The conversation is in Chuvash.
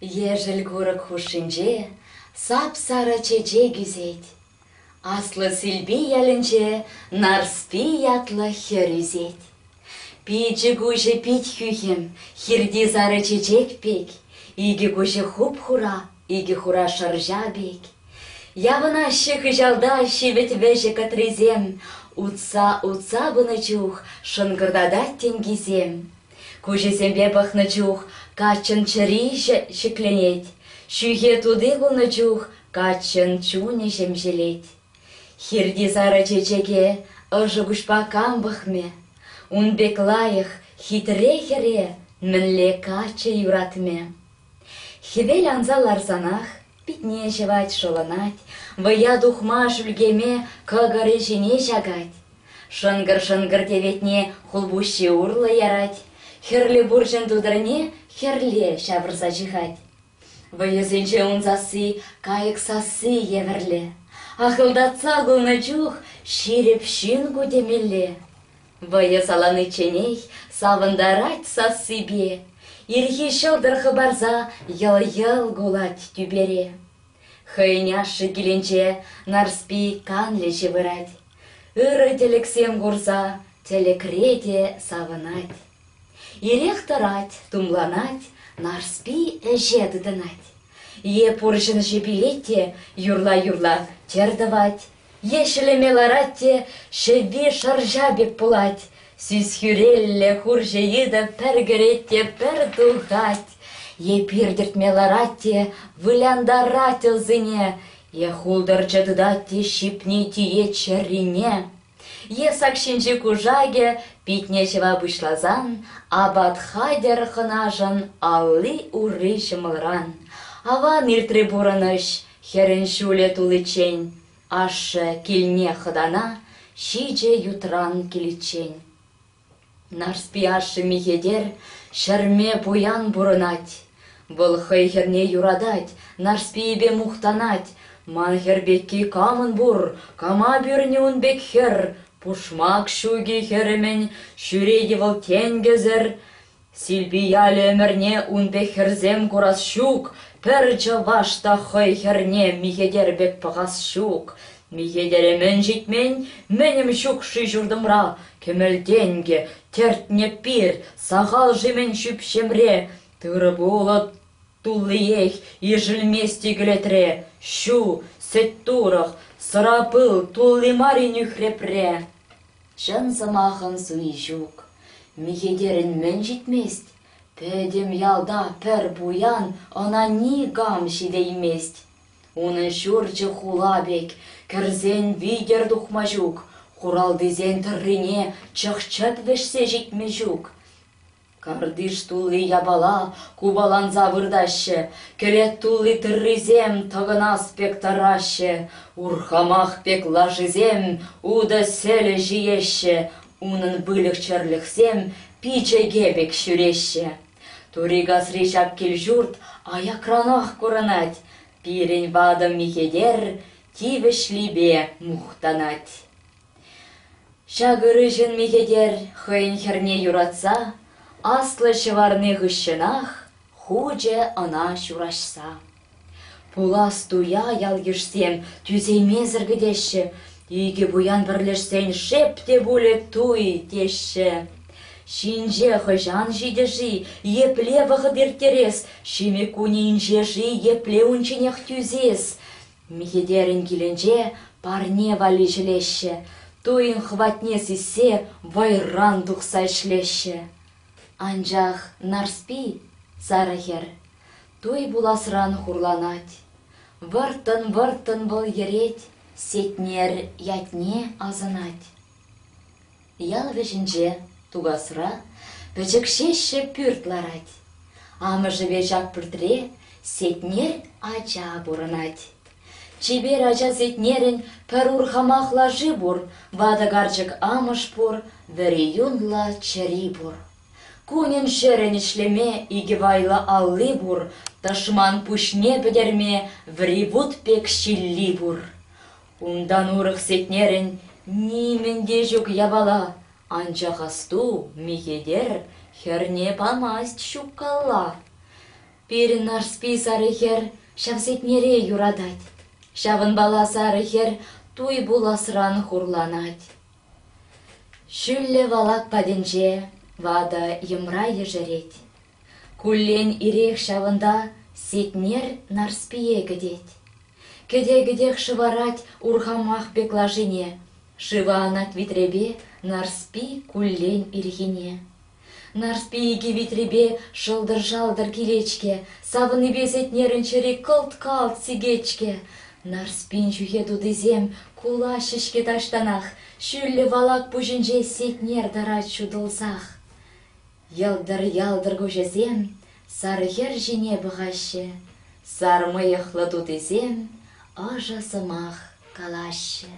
Ешӗл курӑк хушшинче сап-сарӑ чечек ӳсет. Аслӑ Силпи ялӗнче Нарспи ятлӑ хӗр ӳсет. Пичӗ куҫӗ пит хӳхӗм, хирти сарӑ чечек пек, икӗ куҫӗ хуп-хура, Икӗ хура шӑрҫа пек. Явӑнаҫҫӗ хыҫалта ҫивӗт вӗҫӗ кӑтрисем. Утса-утса пынӑ чух шӑнкӑртатать тенкисем. Куҫӗсемпе пӑхнӑ чух каччӑн чӗриҫӗ ҫӗкленет. Ҫӳхе тути пулнӑ чух каччӑн чунӗ ҫемҫелет. Хирти сарӑ чечеке ӑшӑ куҫпа кам пӑхмӗ? Ун пек лайӑх, хитре хӗре мӗнле каччӑ юратмӗ? Хӗвел анса ларсанах питне ҫӑвать, шӑлӑнать, вӑя тухма шӳлкеме кӑкӑрӗ ҫине ҫакать. Шӑнкӑр-шӑнкӑр теветне хулпуҫҫи урлӑ ярать, хӗрлӗ пурҫӑн тутӑрне хӗрле ҫавӑрса ҫыхать. Вӑйӑсенче ун сасси, кайӑк сасси евӗрле. Ахӑлтатса кулнӑ чух ҫирӗп ҫын ку темелле. Вӑйӑ саланичченех савӑнтарать сассипе, Ирхи ҫӑлтӑр хӑпарса йӑл-йӑл кулать тӳпере. Хӑйӗн ашшӗ килӗнче Нарспи канлӗҫӗ вырать, Ырӑ тӗлӗксем курса тӗлӗкре те савӑнать. Ирех тӑрать, тумланать, Нарспи ӗҫе тытӑнать. Е пурҫӑн ҫи пилет те юрла-юрла тӗр тӑвать, Е ҫӗлеме ларать те ҫӗвви шӑрҫа пек пулать, сисхӳрелле хурҫӑ йытӑ пӗр кӗрет те пӗр тухать, е пир тӗртме ларать те вылянтарать ӑлсене, е хултӑрчӑ тытать те ҫипне тиет ҫӗррине, е сак ҫинчи кушакӗ питне ҫӑва пуҫласан апат хатӗр хӑнашӑн алли-урри ҫӑмӑлран, аван иртри пурӑнӑҫ, Хӗрӗн ҫулӗ туличчен ашшӗ килне хӑтана ҫичӗ ютран киличчен. Нарспи ашшӗ Михетер ҫӗрме пуян пурӑнать. Вӑл хӑй хӗрне юратать, Нарспийӗпе мухтанать. Ман хӗр пекки камӑн пур, кама пӳрнӗ ун пек хӗр? Пушмак ҫуки хӗрӗмӗн, ҫӳрет-и вӑл тенкӗсӗр? Силпи ялӗ ӗмӗрне ун пек хӗрсем курас ҫук, пӗр чӑваш та хӑй хӗрне михӗтер пек пӑхас ҫук. Михӗтере мӗн ҫитмен, мӗнӗм ҫук-ши ҫуртӑмра? Кӗмӗл-тенкӗ, тӗртнӗ пир, сахал-ши мӗн ҫӳпҫемре? Тырӑ-пулӑ туллиех ишӗлмест иглетре. Ҫу, сӗт-турӑх, сӑра-пыл тулли мар-и нӳхрепре? Чӑн сӑмахӑн суйи ҫук. Михетерӗн мӗн ҫитмест? Пӗтӗм ялта пӗр пуян ӑна никам ҫитеймест. Унӑн ҫурчӗ хула пек, кӗрсен витӗр тухма ҫук, хуралтисен тӑррине чӑх-чӗп вӗҫсе ҫитме ҫук. Картиш тулли япала купаланса выртаҫҫӗ, кӗлет тулли тыррисем тӑкӑнас пек тӑраҫҫӗ, урхамах пек лашисем утӑ сӗлӗ ҫиеҫҫӗ, унӑн выльӑх-чӗрлӗхсем пичӗке пек ҫӳреҫҫӗ. Турикасри ҫак кил-ҫурт аякранах курӑнать, пирӗн ватӑ Михетер тивӗҫлипе мухтанать. Ҫак ырӑҫӑн михӗтер хӑйӗн хӗрне юратса аслӑ ҫӑварни хыҫҫӑнах хучӗ ӑна ҫураҫса. Пулас туя ял-йышсем тӳсеймесӗр кӗтеҫҫӗ, икӗ пуян пӗрлешсен шеп те пулӗ туй теҫҫӗ. Ҫинҫе хӑҫан ҫитӗ-ши, епле вӑхӑт ирттерес, ҫимӗк кунӗ инҫе-ши, епле унчченех тӳсес? Михӗтерӗн килӗнче парне валли ҫӗлеҫҫӗ, туйӑн хӑватне сиссе вӑйран тухса ӗҫлеҫҫӗ. Анчах Нарспи — сарӑ хӗр, туй пуласран хурланать. Вӑрттӑн-вӑрттӑн вӑл йӗрет, Сетнер ятне асӑнать. Ял вӗҫӗнче, Тукасра, пӗчӗк ҫеҫҫӗ пӳрт ларать. Амӑшӗпе ҫак пӳртре Сетнер ача пурӑнать. Чипер ача Сетнерӗн пӗр урхамах лаши пур, ватӑ карчӑк амӑш пур, вӗри юнлӑ чӗри пур. Кунӗн-ҫӗрӗн ӗҫлеме икӗ вайлӑ алли пур, тӑшман пуҫне пӗтерме ври вут пек ҫилли пур. Унтан урӑх сетнерӗн нимӗн те ҫук япала, анчах асту, Михетер хӗрне памасть ҫуккалла. Пирӗн Нарспи сарӑ хӗр ҫав сетнере юратать, ҫавӑнпала сарӑ хӗр туй пуласран хурланать. Ҫӳллӗ валак патӗнче ватӑ йӑмра ешерет. Куллен ирех ҫавӑнта Сетнер Нарспие кӗтет. Кӗте-кӗтех шӑварать урхамах пек лашине, Шыва анать витрепе Нарспи куллен ирхине. Нарспи икӗ витрепе шӑлтӑр-шалтӑр килет-ҫке, Савнипе Сетнерӗн чӗри кӑлт-калт сикет-ҫке. Нарспин ҫӳхе тутисем кулаҫҫӗ-ҫке таҫтанах, Ҫӳллӗ валак пуҫӗнче Сетнер тӑрать ҫутӑлсах. Йӑлтӑр-ялтӑр куҫӗсем сар хӗр ҫине пӑхаҫҫӗ, сар мӑйӑхлӑ тутисем ӑшӑ сӑмах калаҫҫӗ.